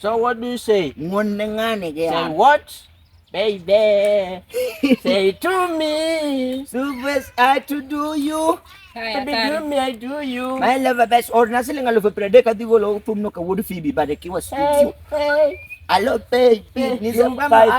So what do you say? Ng'oneng'ane ge. Say what? Baby. say to me. Subes I to do you. Haya, Baby, do me, I do you. My lover best or na siling alo prede ka digo lo pum no ka wood fibi ba de ki was. Hey, hey. Alo baby, ni sa pa pa.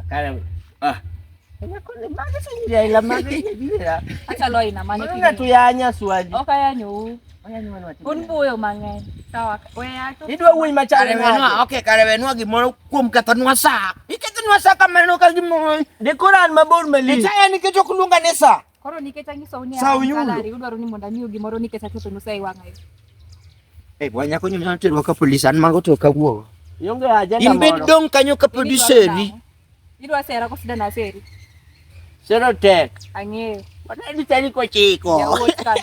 Akala ah. Achalo aina mane Mwana tu yanya swali. Oka yanyu. Un buyo mang'eny. Sawa. Weya tu. Idwa wuoyi machare wenwa. Okay, kare wenwa gimoro kuom katanwa sa. Iketanwa sa kamano ka gimoro. Dekoran mabor mali. Itaya nikech ok luonga ni sa. Koro nikech anyisou ni Sawa, Yulo. salary, udwaro ni mondo amiu gimoro nikech akethonu sa e wang'a yo. Eh, bwana nyako ni mnyalo terwa ka polisi an mago to kawuogo. Ionge ajenda In bed moro. dong' kanyo ka podi Idwaro seri. nang'o? Idwa sera ko sida na seri. Sero tek. Ang'eyo. Wadadi tani kochiko. Jaoch kama.